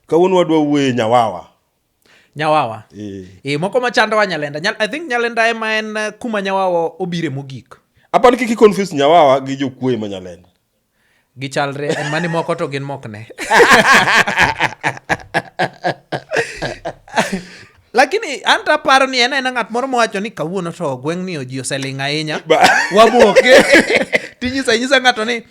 Kawuono wadwa wuoye nyawawa. Nyawawa. Eh. Eh, moko machandowa nyalenda. Nyal, I think nyalenda ema en eh, kuma nyawawa obire mogik. Apa ni kiki confuse nyawawa gi jokuoye ma nyalenda. Gichalre en mani moko to gin mokne. lakini anto aparo ni en aena ng'at moro mowacho ni kawuono to gweng'ni oji oseling' ahinya Ba- wamoke tinyisa inyisa ng'ato ni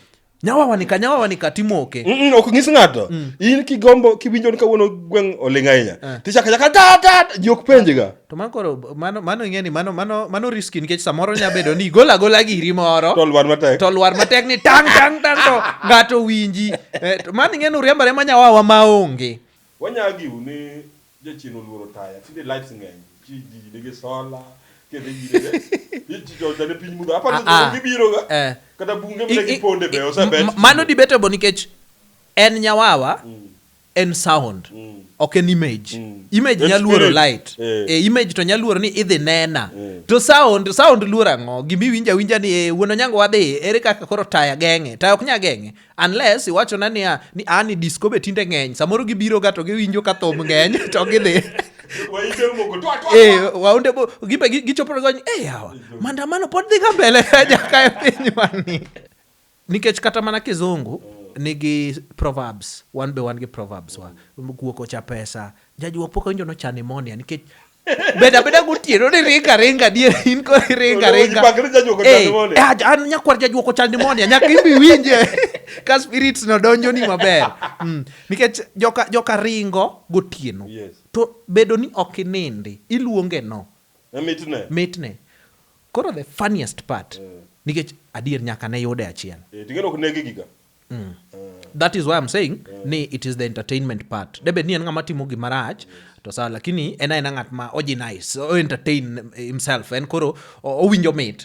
nyawawanika nyawawanika timoke Mm, mm, ok nyis ng'ato Mm. in kigombo kiwinjo ni kawuono gweng' oling' ahinya Eh. tichaka chaka ta ta ta, ji ok penjiga to mano koro mano mano ing'e ni mano mano mano riski nikech samoro nya bedo ni igolo agola giri moro to lwar matek to lwar matek ni tang tang tang to ng'ato winji Eh, to mano ing'e ni uriembore ma nyawawa maonge wanyagiu ni Jachien oluoro taya tinde lights ng'eny ji ji nigi sola kendo yire ji jonja ne piny mudho aparo Ah, ah. ni gibiro ga Eh. kata bunge I- mne i- giponde be i- osebet m- mano debatable nikech en nyawawa en sound ok en image image En nyaluoro spirit. light Eh. e image to nyaluoro ni idhi nena to sound sound luoro ang'o gima iwinjo awinja ni eh, wuon onyango wadhi ere kaka koro taya geng'e taya ok nya geng'e unless iwachona niya ni a ah, ni disco be tinde ng'eny samoro gibiro ga to giwinjo ka thum ng'eny to gidhi eh, waunde bo gimbe gichopore gony e eh, yawa mandamano pod dhi ka mbele jaka e piny wani nikech kata mana kizungu nigi proverbs wan be wan gi proverbs wa guoko cha pesa jajuok pok awinjo nochane monia nikech beda beda gotieno ni ringa ringa dier in ko ringa ringa eh, eh, an nyakwar jajuoko chal nimonia nyaka ibi winje ka spirits no donjo ni maber mm. nikech joka joka ringo gotieno to bedo ni ok inindi iluonge no mitne mitne koro the funniest part eh. nikech adier nyaka ne yude achiel eh, mm. that is why I'm saying mm. ni it is the entertainment part mm. debed ni en ng'ama timo gima rach to sawa lakini en aena ng'at ma oji nice o entertain himself en koro owinjo mit